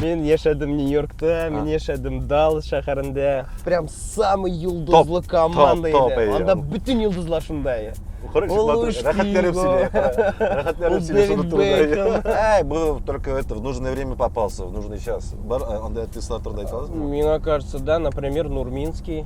Мин яшәдем Нью-Йоркта, мин яшәдем Даллас шәһәрендә. Прям самый йолдызлы команда иде. Анда бүтән йолдызлар шунда иде. Короче, рахатлерим себе. Рахатлерим себе, что тут. Эй, был только это, в нужное время попался, в нужный час. Бар, анда артистлар турында айтасызмы? Миңа кажется, да, например, Нурминский.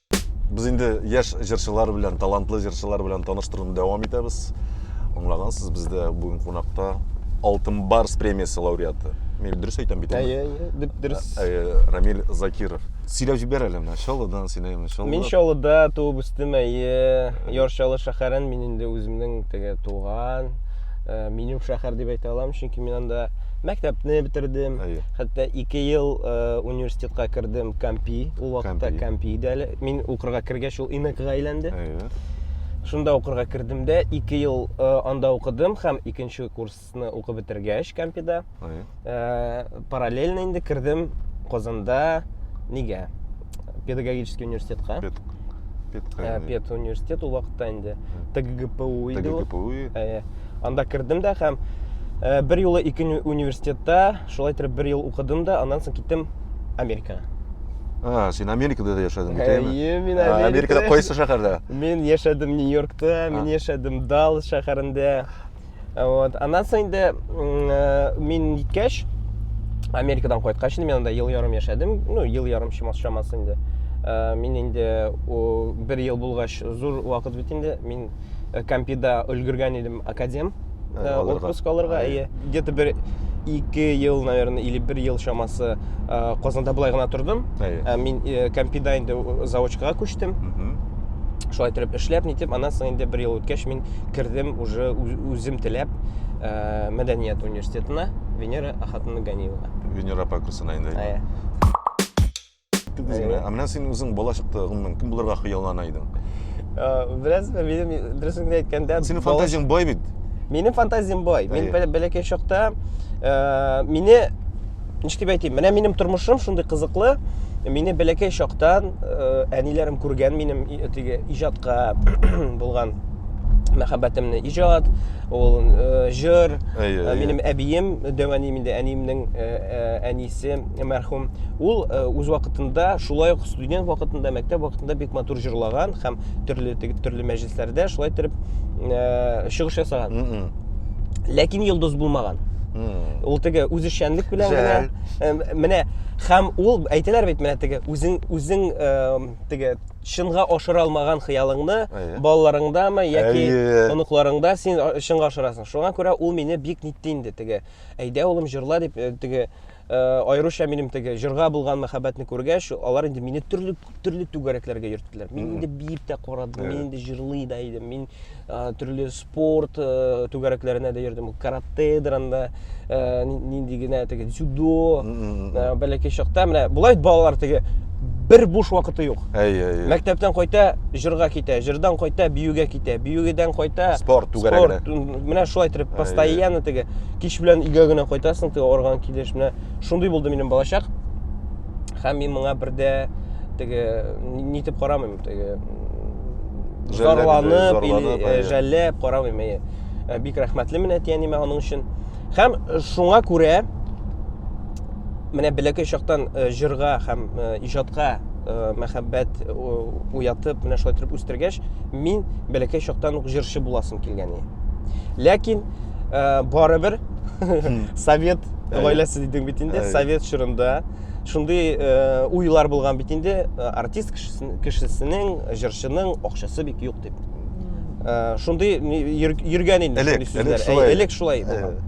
Без инде яшь җырчылар белән, талантлы җырчылар белән таныштыруны дәвам итәбез. Аңлагансыз, бездә бүген кунакта Алтын Барс премиясе лауреаты. Мин дөрес әйтәм бит. Әйе, әйе, дөрес. Ә, ә, Рамил Закиров. Сөйләп җибәр әле менә Чаллыдан сөйләйме, Чаллы. Мин Чаллыда туып үстем, әйе. Яр Чаллы шәһәрен мин инде үземнең теге туган, э, минем шәһәр дип әйтә алам, чөнки мин анда мәктәпне бетердем. Әйе. хәтта ике ел э, университетка кердем кампи ул вакытта кампи иде әле мин укырга кергәч ул инкга әйләнде шунда укырга кердем дә ике ел э, анда укыдым һәм икенче курсны укып бетергәч кампида э, параллельно инде кердем казанда нигә педагогический университетка пед ә, пед университет ул вакытта инде тгпу иде тгпу ә, анда кердем дә һәм ә, бер юлы ике университетта шулай итеп бер ел укыдым да аннан соң киттем америкага А, син Америкада да яшәдең бит, әйеме? Әйе, мин Америкада. Америкада кайсы шәһәрдә? Мин яшәдем Нью-Йоркта, мин яшәдем Даллас шәһәрендә. вот аннан соң инде э, мин җиткәч америкадан кайткач инде мин анда ел ярым яшәдем ну ел ярым чамасы чамасы инде э, мин инде бер ел булгач зур вакыт бит инде мин э, компида өлгергән идем академ отпуск алырга әйе где то бер ике ел наверное или бер ел чамасы казанда былай гына тордым ә мин компида инде заочкага күчтем шулай итеп эшләп нитеп аннан соң инде бер ел үткәч мин кердем уже үзем теләп ә, мәдәният университетына венера ахатовна ганиева венера апа курсына инде ә, ә менә син үзең бала чакта гомумән кем булырга хыяллана идең бераз минем дөресен әйткәндә синең фантазияң бай бит минем фантазиям бай мин бәләкәй чакта ә, мине ничек дип әйтим менә минем тормышым шундый кызыклы мине бәләкәй чактан э, әниләрем күргән минем теге иҗатка булган мәхәббәтемне иҗат ул э, җыр э, минем әбием дәвәним инде әниемнең әнисе мәрхүм ул үз вакытында шулай ук студент вакытында мәктәп вакытында бик матур җырлаган һәм төрле төрле мәҗлесләрдә шулай итеп чыгыш ясаган ләкин йолдыз булмаган ул теге үзешчәнлек белән генә менә һәм ул әйтәләр бит менә теге үзең үзең теге чынга ашыра алмаган хыялыңны балаларыңдамы яки оныкларыңда син чынга ашырасың шуңа күрә ул мине бик нитте инде теге әйдә улым җырла дип э, теге Э, аеруча минем теге җырга булган мәхәббәтне күргәч, алар инде мине төрле төрле түгәрәкләргә йөрттеләр. Мин инде биеп тә карадым, мин инде җырлый да идем, мин э, төрле спорт э, түгәрәкләренә дә йөрдем, каратедер анда нинди генә теге дзюдо, бәләкәй чакта менә болай балалар теге бер буш вакыты юк. Әйе, әйе. Мәктәптән кайта, җырга китә, җырдан кайта, биюгә китә, биюгедән кайта, спорт түгәрәгенә. Спорт, менә шулай итеп постоянно теге кич белән өйгә генә кайтасың теге арган килеш менә шундый булды минем балачак һәм мин моңа бер дә теге нитеп карамыйм теге зарланып или жәлләп карамыйм әйе э, бик рәхмәтлемен әтиәнимә аның өчен һәм э, шуңа күрә менә бәләкәй чактан э, җырга һәм иҗатка мәхәббәт уятып менә шулай итеп үстергәч мин бәләкәй чактан ук җырчы буласым килгән ләкин ә, барыбер совет гаиләсе дидең бит инде совет чорында шундый э, уйлар булган бит инде э, артист кешесенең җырчының акчасы бик юк дип э, шундый йөргән инде элек элек шулай элек шулай булган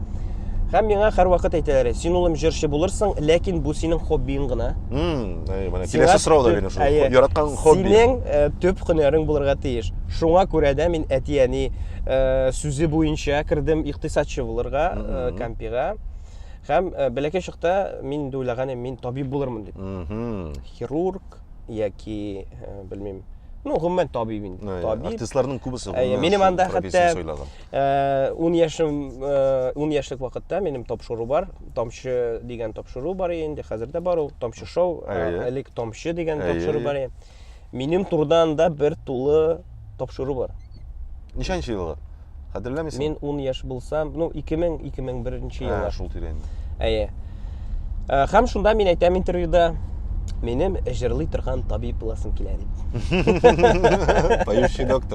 һәм миңа һәрвакыт әйтәләр син улым җырчы булырсың ләкин бу синең хоббиң гына киләсе сорау да бирем шул яраткан хобби синең төп һөнәрең булырга тиеш шуңа күрә дә мин әти әни Э, сүзе буенча кердем икътисадчы булырга э, кампига һәм э, бәләкәй чакта мин инде уйлаган мин табиб булырмын дип хирург яки белмим ну гомумән табиб инде табиб артистларның күбесе минем анда хәтта ун яшем ун яшьлек вакытта минем тапшыру бар тамчы дигән тапшыру бар инде хәзер дә бар ул тамчы шоу элек тамчы дигән тапшыру бар Минем турыда анда бер тулы тапшыру бар. Ничәнче еллар? Хәтерләмисең? Мин 10 яшь булсам, ну 2000 2001 нче еллар. Ә, шул тирән. Әйе. Ә, һәм шунда мин әйтәм интервьюда, минем җырлый торган табиб буласым килә дип. Поющий доктор.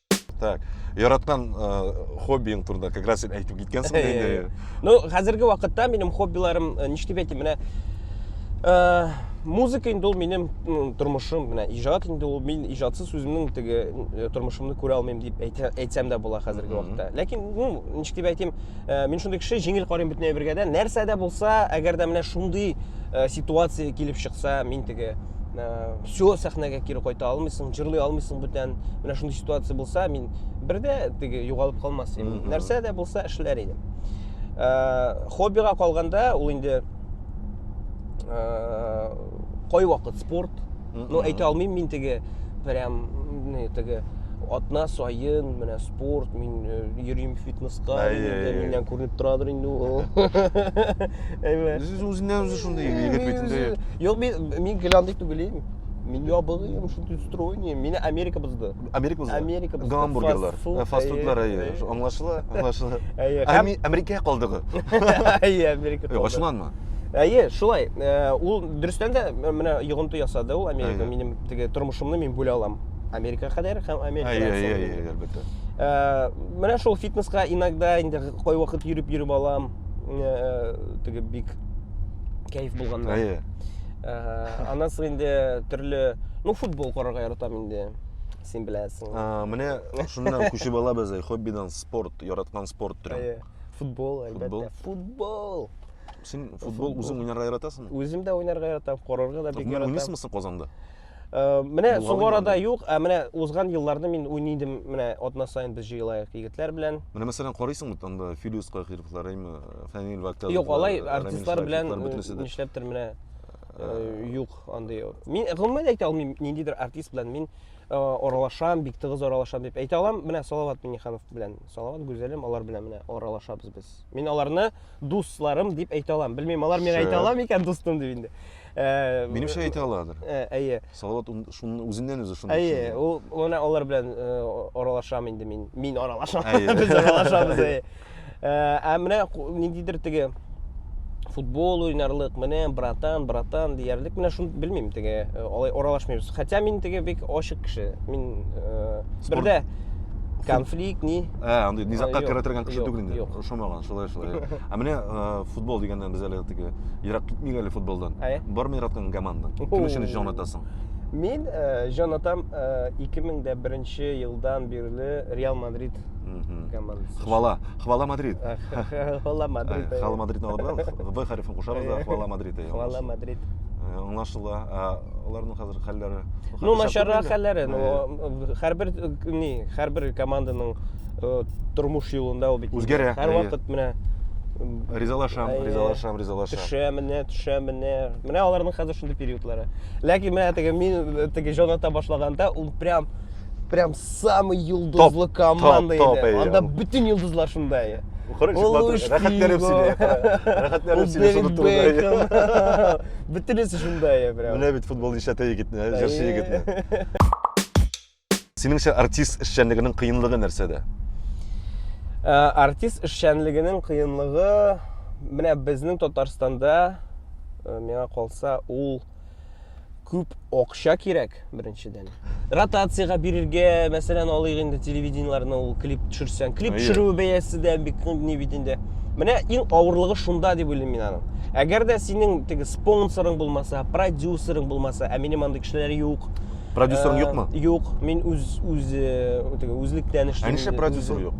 так яраткан хоббиң турында как раз сен әйтеп киткәнсең дә инде ну хәзерге вакытта минем хоббиларым ништеп әйтим менә музыка инде ул минем тормышым менә иҗат инде ул мин иҗатсыз үземнең теге тормышымны күрә алмыйм дип әйтсәм дә була хәзерге вакытта ләкин ну ничек дип әйтим ә, мин шундый кеше җиңел карыйм бөтен әйбергә дә нәрсә дә булса әгәр дә менә шундый ә, ситуация килеп чыкса мин теге ә, все сәхнәгә кире кайта алмыйсың җырлый алмыйсың бүтән менә шундый ситуация булса мин бердә теге югалып калмас идем нәрсә дә булса эшләр идем ә, хоббига калганда ул инде ә, кайвакыт спорт Ну, әйтә алмыйм мин теге прям теге атна сайын менә спорт мин э, йөрим фитнеска миннән күренеп торадыр инде ул үзеннән үзе шундый егет бит инде юк мин мин геландый түгел мин ябыгыйм шундый стройный мени америка бозды Америка бозы. Америка бозы. Гамбургерлар. Э, фастфудлар, әйе. Аңлашыла, аңлашыла. Әйе. Америка калдыгы. Әйе, Америка калдыгы. Ачуланма. Әйе, шулай. Э, ул дөрестән дә э, менә йогынты ясады ул Америка. Минем теге тормышымны мин бүлә алам. Америка кадәр һәм Америка. Әйе, әйе, әйе, әлбәттә. Менә шул фитнеска иногда инде кой вакыт йөреп йөреп алам. Теге бик кайф булганда. Әйе. аннан соң инде төрле ну футбол карарга яратам инде син беләсең менә шуннан күчеп алабыз э, хоббидан спорт яраткан спорт төре футбол әлбәттә футбол син футбол үзең уйнарга яратасыңмы үзем дә уйнарга яратам карарга да бик яратам уйныйсыңмы син казанда Э, менә соңгы арада юк, ә менә узган елларны мин уйныйдым, менә атна сайын без җыелаек егетләр белән. Менә мәсәлән карыйсың бит анда Филюс Кахировлар, әйме, Фәнил Вәктәлов. Юк, алай артистлар белән нишләптер менә э, юк андый. Мин гомумән әйтә алмыйм, ниндидер артист белән мин э, аралашам, бик тыгыз аралашам дип әйтә алам. Менә Салават Миниханов белән, Салават Гүзәлем алар белән менә аралашабыз без. Мин аларны дусларым дип әйтә алам. Белмим, алар миңа әйтә ала микән дустым дип инде. Э, Минемчә әйтә аладыр. Э, әйе. Салават шуны үзеннән үзе шуны. Әйе, ул менә алар белән э, аралашам инде мин. Мин аралашам. Без аралашабыз. Ә менә ниндидер теге футбол уйнарлык менә братан братан диярлек менә шуны белмим теге э, алай аралашмыйбыз хотя мин теге бик ачык кеше мин э, бердә конфликт ни ә андый низакка керә торган кеше түгел инде ошамаган шулай шулай ә менә футбол дигәндә без әле теге ерак китмик әле футболдан бармы яраткан командаң кем өчен җан атасың мин җан атам ике мең дә беренче елдан бирле реал мадрид командасы хвала хвала мадрид хвала мадрид хвала мадрид алып в хәрефен кушабыз да хвала мадрид хвала мадрид аңлашыла аларның хәлләре. Ну, начаррак хәлләре, ну, һәрбер ни, һәрбер команданың тормыш юлында ул бит. Үзгәрә. Һәр вакыт менә ризалашам, ризалашам, ризалашам. Төшә менә, төшә менә. Менә аларның хәзер шундый периодлары. Ләкин менә теге мин теге җонатта башлаганда, ул прям прям самый йолдызлы топ, команда топ, топ, анда бүтін йолдызлар шунда иә рәхәтләнеп бөтенесе шунда иә прям менә бит футбол ишәтә егетне җырчы егетне синеңчә артист эшчәнлегенең кыенлыгы нәрсәдә ә, артист эшчәнлегенең кыенлыгы менә безнең татарстанда ә, миңа калса ул күп акча кирәк беренчедән ротациягә бирергә мәсәлән алыйк инде телевидениеләрне ул клип төшерсәң клип төшерү бәясе дә бик ни бит инде менә иң авырлыгы шунда дип уйлыйм мин аның әгәр дә синең теге спонсорың булмаса продюсерың булмаса ә минем андый кешеләр юк продюсерың юкмы юк мин үз үз теге үзлектән эшлим ә нишләп продюсер юк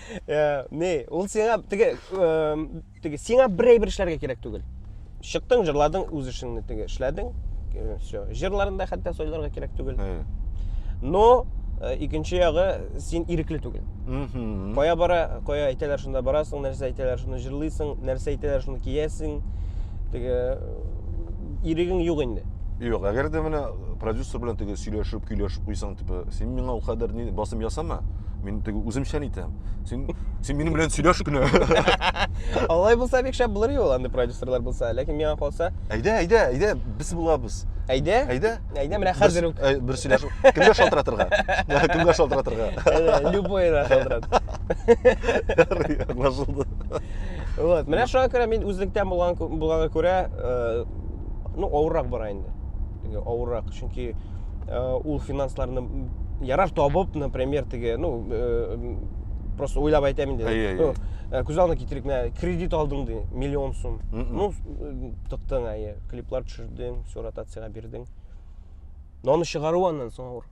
Э, не ул сиңа теге теге сиңа бер әйбер эшләргә кирәк түгел чыктың җырладың үз эшеңне теге эшләдең э, все җырларын да хәтта сойларга кирәк түгел но э, икенче ягы син ирекле түгел кая бара кая әйтәләр шунда барасың нәрсә әйтәләр шуны җырлыйсың нәрсә әйтәләр шуны киясең теге ирегең юк инде юк әгәр дә менә продюсер белән теге сөйләшеп көйләшеп куйсаң Типа, син миңа ул кадәр ни басым ясама. Мин теге үземчән итәм. Син син минем белән сөйләш кенә. Алай булса бик шәп булыр юл андый продюсерлар булса. Ләкин миңа калса, Әйдә, әйдә, әйдә, без булабыз. әйдә, Әйдә. әйдә менә хәзер үк. Бер, бер сөйләшү. Кемгә шалтыратырга? Кемгә шалтыратырга? Әйдә, Любой да шалтырат. Аңлашылды. Вот, менә шуңа күрә мин үзлектән булган булганга күрә, э, ну, авыррак бара инде. теге авыррак чөнки э, ул финансларны ярар табып например теге ну э, просто уйлап айтам инде ну, э, күз алдына китерик менә кредит алдың ди миллион сум ну тыктың әйе клиплар төшердең все ротацияга бирдең но аны чыгару аннан соң авыр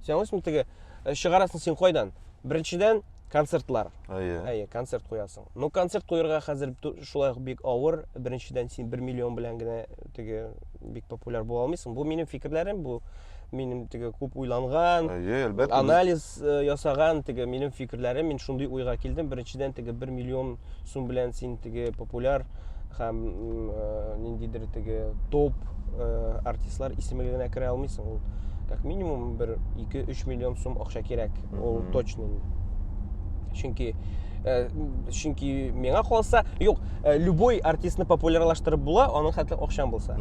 сен аңлайсыңбы теге чыгарасың син кайдан беренчедән концертлар әйе әйе концерт куясың но концерт куярга хәзер шулай ук бик авыр беренчедән син бер миллион белән генә теге бик популяр була алмыйсың бу минем фикерләрем бу минем теге күп уйланган әйе әлбәттә анализ э, ясаган теге минем фикерләрем мин шундый уйга килдем беренчедән теге бер миллион Шун белән син теге популяр һәм ниндидер теге топ артистлар исемлегенә генә керә алмыйсың. Ул как минимум бер 2-3 миллион сум акча кирәк. Ул точно инде. Чөнки Э, чөнки миңа калса юк э, любой артистны популярлаштырып була аның хәтле акчаң булса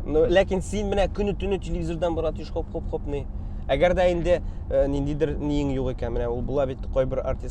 ну ләкин син менә көне төне телевизордан бара тиш хоп хоп хопный әгәр дә инде э, ниндидер ниең юк икән менә ул була бит кайбер артист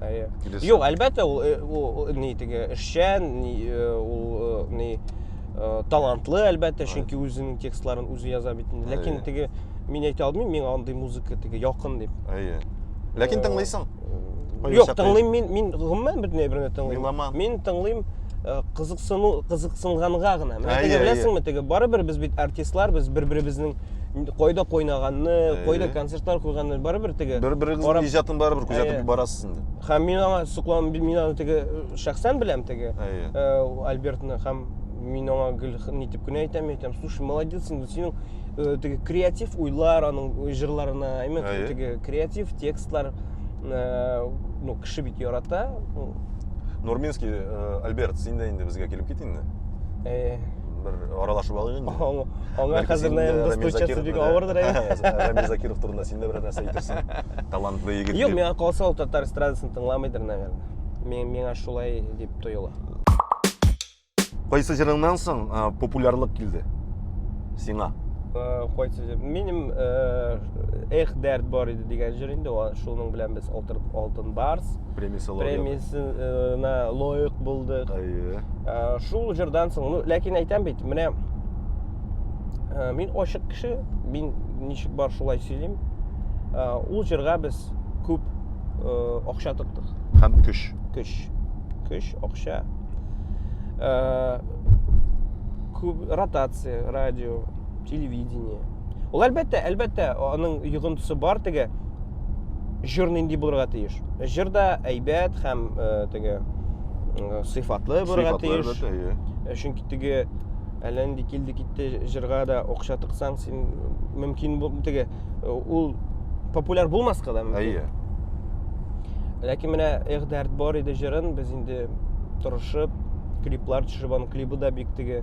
Әйе. Килесе. Юк, әлбәттә, ул, э, ул, ул ни теге эшчән, ни, э, ул э, ни э, талантлы, әлбәттә, Әйе. чөнки үзенең текстларын үзе яза бит инде. Ләкин Әйе. теге мин әйтә алмыйм, миңа андый музыка теге якын дип. Әйе. Ләкин Э, тыңлыйсың. Кайбер Юк, чакта тыңлыйм мин, мин гомумән бөтенләй берне тыңлыйм. Меломан. Мин тыңлыйм э, кызыксыну, кызыксынганга гына. Менә Әйе, теге әйе. беләсеңме, теге барыбер без бит артистлар, без бер-беребезнең кайда кайнаганны кайда концертлар куйганны барыбер теге бер берегезнең иҗатын барыбер күзәтеп барасыз инде һәм мин аңа соклан мин аны теге шәхсән беләм теге альбертны һәм мин аңа гел нитеп кенә әйтәм әйтәм слушай молодец инде синең э, теге креатив уйлар аның э, җырларына именно ә, теге креатив текстлар э, ну кеше бит ярата нурминский альберт син дә инде безгә килеп кит инде бер аралашып алыйк инде. Аңа хәзер наем достучаться бик авырдыр әле. Рамил Закиров турында син дә берәр нәрсә әйтерсең. Талантлы егет. Юк, миңа калса ул татар эстрадасын тыңламыйдыр, наверное. Мен миңа шулай дип тоела. Кайсы җырыңнан соң популярлык килде? Сиңа. Кайсы җыр? Минем Эх, дәрт бар иде дигән җыр инде, шуның белән без алтын барс. премиясалар премиясенә лоек булдык әйе ә, шул җырдан соң ну ләкин әйтәм бит менә ә, мин ачык кеше мин ничек бар шулай сөйлим ә, ул җырга без күп ә, акча тоттык һәм көч көч көч акча ә, күп ротация радио телевидение Ул әлбәттә, әлбәттә, аның йогынтысы бар теге җыр нинди булырга тиеш. Җыр да әйбәт һәм э, теге э, сыйфатлы булырга тиеш. Иә. Э, чөнки теге әллә нинди килде китте җырга да акча тыксаң, син мөмкин теге ул популяр булмаска да мөмкин. Әйе. Ләкин менә Эх дәрт бар иде җырын без инде тырышып клиплар төшереп, аның клибы да бик теге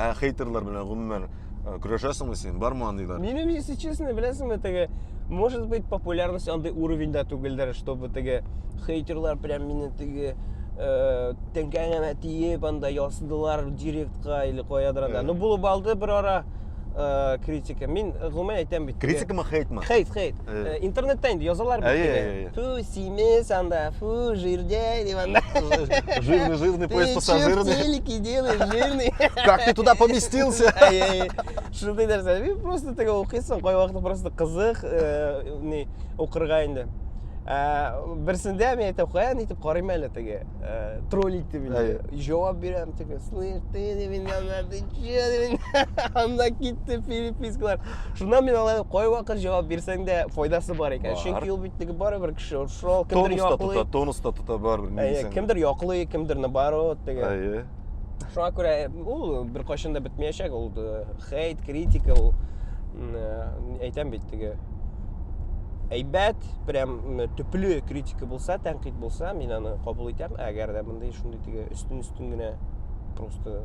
Ә хейтерлар белән гомумән э, көрәшәсеңме син? Бармы андыйлар? Минем, если честно, беләсеңме, теге, может быть, популярность андый уровеньда түгелдер, чтобы теге хейтерлар прям мине теге э, тәңкәңәмә тиеп, анда ясыдылар директка или каядыр анда. Э. Ну, булып алды бер ара э, критика. Мин гомумән әйтәм бит. теге- Критикамы, хейтмы? Хейт, хейт. Э, интернетта инде язалар бит теге. Фу, симес анда, фу, жирдяй дип анда. Жирный, жирный поезд пассажирный. Ты телеки делаешь, жирный. Как ты туда поместился? Шундый нәрсә. Мин просто теге укыйсың, кай вакыт просто кызык, э, ни, укырга инде. Э, Берсендә мин әйтәм, каян итеп карыйм әле теге. Тролль итте мине. Җавап бирәм теге. Слышь, ты, мин анда, ты че, анда китте перепискалар. Шуннан мин алай кайвакыт җавап бирсәң дә файдасы бар икән. Бар. Чөнки ул бит теге барыбер кеше ул шул кемдер Тонус та яклый. тота, тонус та тота барыбер ни Әйе, дисәң. дә. кемдер яклый, кемдер наоборот теге. Әйе. Шуңа күрә э, ул беркайчан да бетмәячәк ул э, хейт, критика ул м, э, әйтәм бит теге әйбәт, прям м, төпле критика булса, тәнкыйть булса, мин аны кабул итәм. Әгәр дә мондый шундый теге өстен-өстен генә просто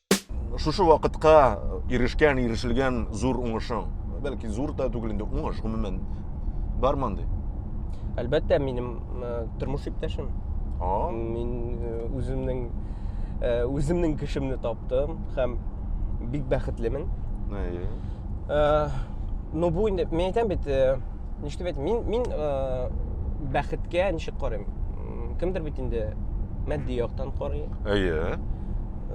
шушы вакытка ирешкән ирешелгән зур уңышың бәлки зур да түгел инде уңыш гомумән бармы андый әлбәттә минем э, тормыш иптәшем мин э, үземнең э, үземнең кешемне таптым һәм бик бәхетлемен но бу инде мин әйтәм бит нишләп әйтәм мин мин бәхеткә ничек карыйм кемдер бит инде матди яктан карый әйе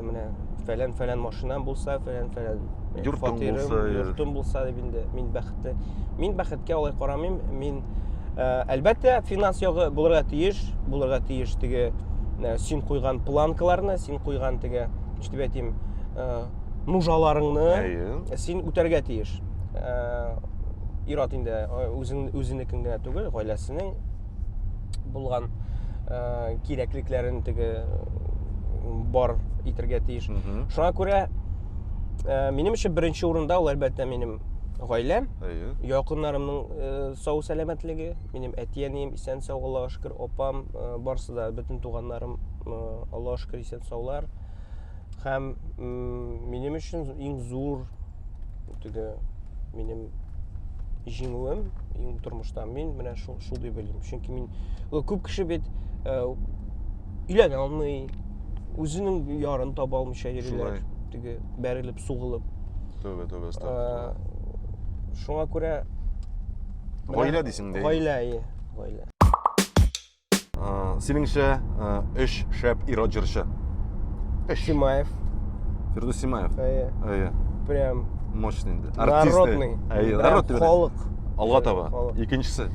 менә фәлән фәлән машинам булса фәлән фәлән э, йортым булса йортым булса дип инде мин бәхетле мин бәхеткә алай карамыйм мин э, әлбәттә финанс ягы булырга тиеш булырга тиеш теге э, син куйган планкаларны син куйган теге ничек әйтим нужаларыңны син үтәргә тиеш ир-ат инде үзен үзенекен генә түгел гаиләсенең булган ә, кирәклекләрен теге бар итергә тиеш шуңа күрә ә, минем өчен беренче урында ул әлбәттә минем гаиләм әйе якыннарымның ә, сау сәламәтлеге минем әти әнием исән сау аллага шөкер апам ә, барысы да бөтен туганнарым ә, аллага шөкер исән саулар һәм минем өчен иң зур ул теге минем җиңүем иң тормышта мин менә шул шул дип уйлыйм чөнки мин күп кеше бит э, өйләнә алмый үзенең ярын таба алмыйча йөриләр теге бәрелеп сугылып түбә түбә э, шуңа күрә гаилә дисең дә гаилә гаилә Ә, синеңчә, ә, өч шәп ир-ат җырчы. Өч. Симаев. Фирдус Симаев. Әйе. Әйе. Прям Мощный инде. Артист. народный. Әйе, Прям народ дип бирә. халык. Алга таба. Халык. Икенчесе.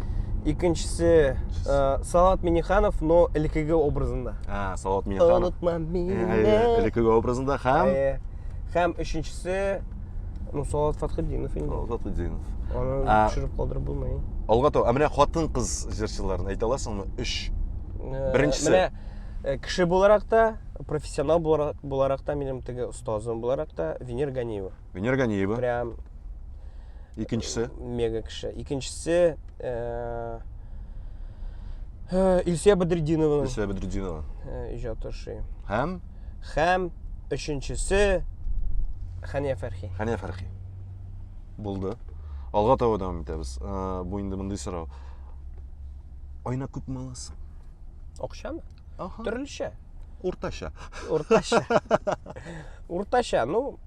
Икенчесе э, Салат Миниханов, но элекеге образында. А, Салават Миниханов. Онытма мине. Әйе, элекеге образында һәм Әйе. Һәм өченчесе ну Салават Фатхетдинов инде. Салават Фатхетдинов. Аны ә... төшереп калдырып булмый. Алга таба. Ә менә хатын-кыз җырчыларын әйтә аласыңмы? 3. Э, Беренчесе. Менә э, кеше буларак та, профессионал буларак та минем теге остазым буларак та Венер Ганиева. Венер Ганиева. Прям Икенчесе? Мега кеше. Икенчесе э, Э, Илсия Бәдретдинова. Илсия Бәдретдинова. Э, иҗат эше. Һәм һәм өченчесе Хәния Фәрхи. Хәния Фәрхи. Булды. Алга таба дәвам итәбез. Э, бу инде мондый сорау. Айна күп маласы. Акчамы? Аха. Төрлечә. Уртача. Уртача. Уртача. Ну,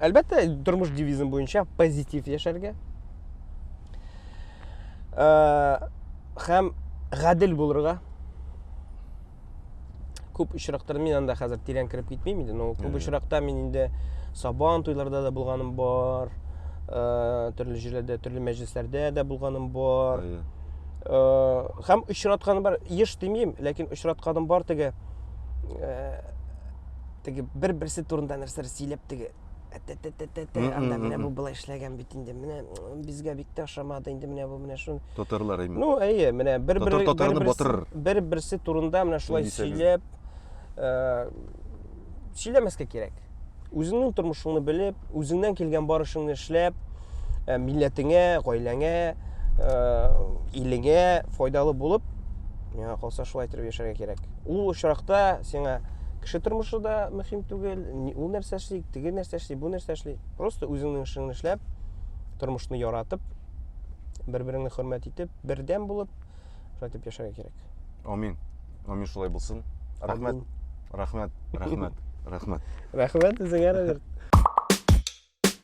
Әлбәттә, тормыш девизым буенча позитив яшәргә. Ә, хәм гадел булырга. Күп очрактар мин анда хәзер тирән кереп китмим инде, но күп очракта мин инде Сабан туйларда да булганым бар, ә, төрле җирләрдә, төрле мәҗлесләрдә дә булганым бар. Ә, хәм очратканым бар, еш димим, ләкин очратканым бар теге. Ә, теге бер берсе турында нәрсәләр сөйләп теге әтәтәтәтәтә анда менә бу былай эшләгән бит инде менә безгә бик тә ошамады инде менә бу менә шул татарлар именно ну әйе менә бер бер татарны батырыр бер берсе турында менә шулай сөйләп э, сөйләмәскә кирәк үзеңнең тормышыңны белеп үзеңнән килгән бар эшләп ә, милләтеңә, гаиләңә, ә, илеңә файдалы булып, миңа калса шулай итеп яшәргә кирәк. Ул очракта сиңа кеше тормышы да мөһим түгел, ул нәрсә эшли, теге нәрсә эшли, бу нәрсә эшли. Просто үзеңнең эшеңне эшләп, тормышны яратып, бер-береңне хөрмәт итеп, бердәм булып, шулай итеп яшәргә кирәк. Амин. Амин шулай булсын. Рәхмәт. Рәхмәт. Рәхмәт. Рәхмәт. Рәхмәт үзеңә, Роберт.